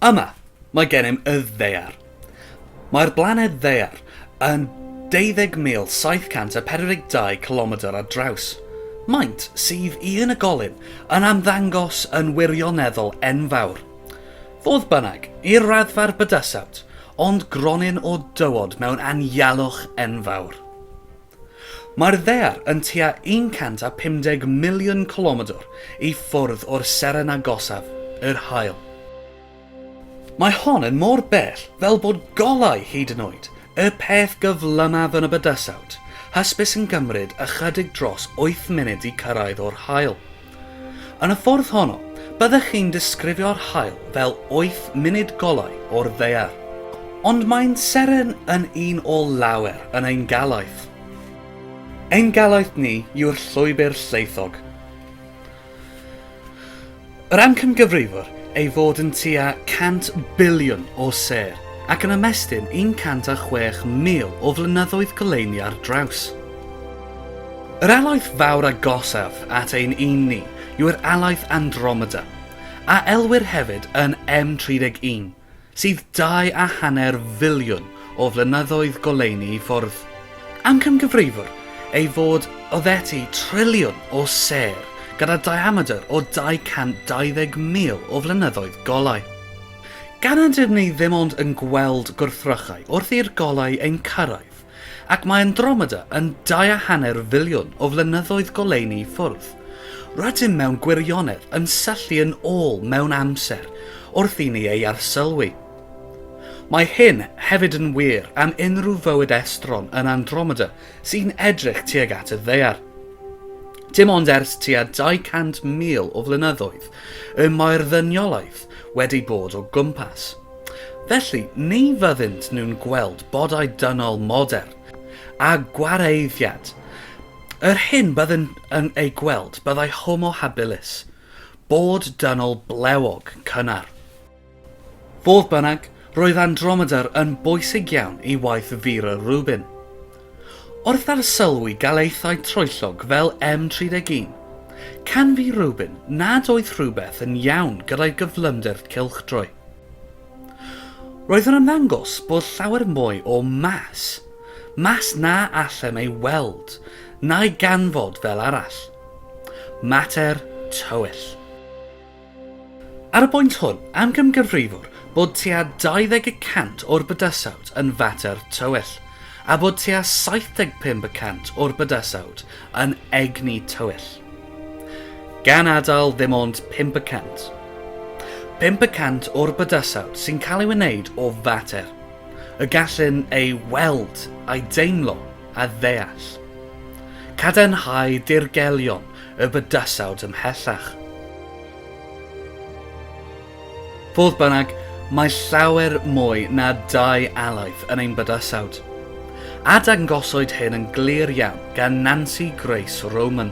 Yma, mae gennym y Ddaear. Mae'r blaned Ddaear yn 20,742 cilomedr ar draws. Maint sydd i unigolyn yn ymddangos yn wirioneddol enfawr. Fodd bynnag, i'r raddfa'r bydysawt ond gronyn o dywod mewn anialwch enfawr. Mae'r ddaear yn tua 150 miliwn cilomedr i ffwrdd o'r seren agosaf, yr Haul. Mae hon yn mor bell fel bod golau hyd yn oed y peth gyflymaf yn y bydysawd hysbys yn cymryd ychydig dros wyth munud i cyrraedd o'r Haul. Yn y ffordd honno, byddech chi'n disgrifio'r haul fel wyth munud golau o'r ddaear. Ond mae'n seren yn un o lawer yn ein galaeth. Ein galaeth ni yw'r llwybr llaethog. Yr amcangyfrifwr ei fod yn tua 100 biliwn o sêr ac yn ymestyn 106,000 o flynyddoedd goleuni ar draws. Yr alaeth fawr agosaf at ein un ni yw'r alaeth Andromeda, a elwir hefyd yn M31, sydd dau a hanner filiwn o flynyddoedd goleuni i ffwrdd. Amcangyfrifir ei fod oddeutu triliwn o sêr gyda diamedr o 220,000 o flynyddoedd golau. Gan nad ydym ni ddim ond yn gweld gwrthrychau wrth i'r golau ein cyrraedd, Ac mae Andromeda yn dau a hanner filiwn o flynyddoedd goleuni i ffwrdd. Rydym mewn gwirionedd yn syllu yn ôl mewn amser wrth i ni ei arsylwi. Mae hyn hefyd yn wir am unrhyw fywyd estron yn Andromeda sy'n edrych tuag at y Ddaear. Dim ond ers tua 200,000 o flynyddoedd y mae'r ddyniolaeth wedi bod o gwmpas. Felly, ni fyddynt nhw'n gweld bodau dynol modern, a gwareiddiad. Yr hyn byddwn yn ei gweld byddai homo habilis, bod dynol blewog, cynnar. Fodd bynnag, roedd Andromeda'r yn bwysig iawn i waith Vera Rubin. Wrth arsylwi galaethau troellog fel M31, canfu Rubin nad oedd rhywbeth yn iawn gyda'i gyflymder cylchdroi. Roedd yn ymddangos bod llawer mwy o mas, mas na allem ei weld, na'i ganfod fel arall. Mater tywyll. Ar y bwynt hwn, amgymgyfrifwr bod tua 20 y cant o'r bydysawd yn fater tywyll, a bod tua 75 y cant o'r bydysawd yn egni tywyll. Gan adael ddim ond 5 y cant. 5 y cant o'r bydysawd sy'n cael ei wneud o fater, y gallwn ei weld, a'i deimlo, a ddeall. Cadarnhau dirgelion y bydysawd ymhellach. Fodd bynnag, mae llawer mwy na dau alaeth yn ein bydysawd, a dangosoid hyn yn glir iawn gan Nancy Grace Roman.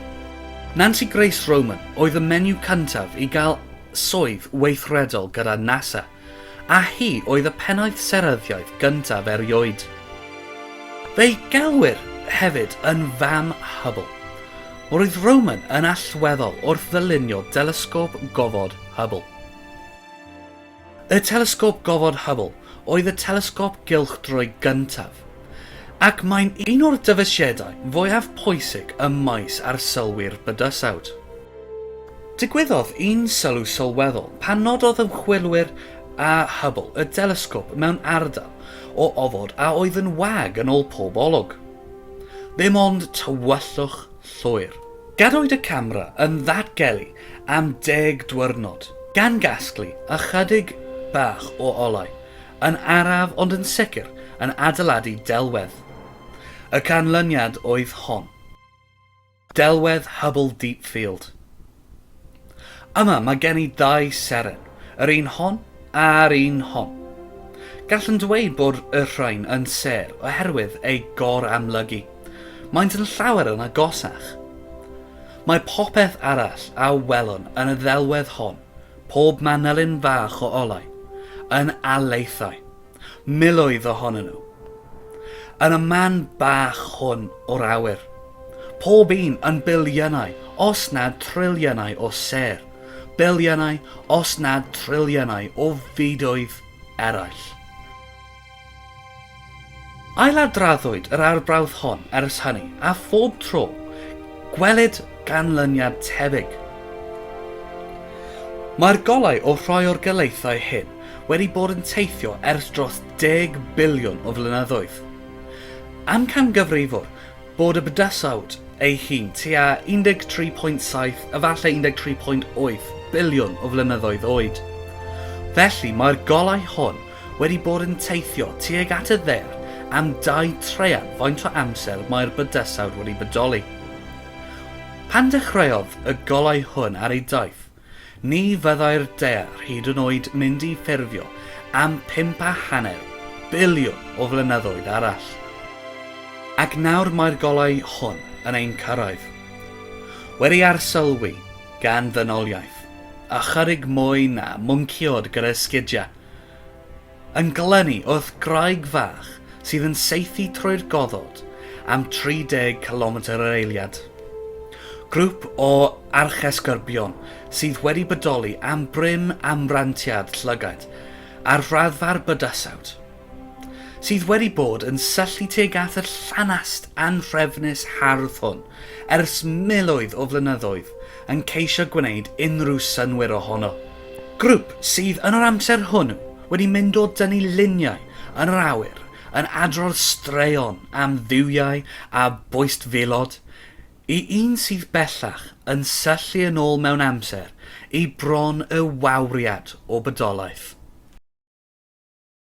Nancy Grace Roman oedd y menyw cyntaf i gael swydd weithredol gyda NASA, a hi oedd y pennaeth seryddiaeth gyntaf erioed. Fe'i gelwir hefyd yn Fam Hubble. Roedd Roman yn allweddol wrth ddylunio delesgôp gofod Hubble. Y Telesgop Gofod Hubble oedd y telesgop gylchdroi gyntaf, ac mae'n un o'r dyfeisiadau fwyaf pwysig ym maes arsylwi'r bydysawd. Digwyddodd un sylw sylweddol pan nododd ymchwilwyr â Hubble y delesgop mewn ardal o ofod a oedd yn wag yn ôl pob olwg. Dim ond tywyllwch llwyr. Gadwyd y camera yn ddatgelu am deg dwyrnod, gan gasglu ychydig bach o olau, yn araf ond yn sicr yn adeiladu delwedd. Y canlyniad oedd hon. Delwedd Hubble Deep Field. Yma mae gen i ddau seren, yr un hon a'r un hon. Gallwn dweud bod y rhain yn sêr oherwydd eu gor-amlygu. Maent yn llawer yn agosach. Mae popeth arall a welwn yn y ddelwedd hon, pob manylyn fach o olau, yn alaethau, miloedd ohonyn nhw, yn y man bach hwn o'r awyr, pob un yn biliynau, os nad triliynau o sêr, biliynau, os nad triliynau o fydoedd eraill. Ailadroddwyd yr arbrawf hon ers hynny, a phob tro, gwelid ganlyniad tebyg. Mae'r golau o rhai o'r galaethau hyn wedi bod yn teithio ers dros deg biliwn o flynyddoedd. Amcangyfrifwr bod y bydysawd ei hun tua 13.7, efallai 13.8, biliwn o flynyddoedd oed. Felly, mae'r golau hon wedi bod yn teithio tuag at y ddaear am dau traean faint o amser mae'r bydysawd wedi bodoli. Pan dechreuodd y golau hwn ar ei daith, ni fyddai'r daear hyd yn oed mynd i ffurfio am pump a hanner biliwn o flynyddoedd arall. Ac nawr mae'r golau hwn yn ein cyrraedd. Wedi arsylwi gan ddynoliaeth, ychydig mwy na mwncïod gyda sgidiau Yn glynu wrth graig fach sydd yn saethu trwy'r goddod am 30 cilometr yr eiliad. Grŵp o archesgyrbion sydd wedi bodoli am brin am rantiad llygaid ar raddfa'r bydysawd, sydd wedi bod yn syllu tuag at y llanast anhrefnus hardd hwn ers miloedd o flynyddoedd yn ceisio gwneud unrhyw synnwyr ohono. Grŵp sydd yn yr amser hwn wedi mynd o dynnu luniau yn yr awyr yn adrodd straeon am dduwiau a boistfelod i un sydd bellach yn syllu yn ôl mewn amser i bron y wawriad o bydolaeth.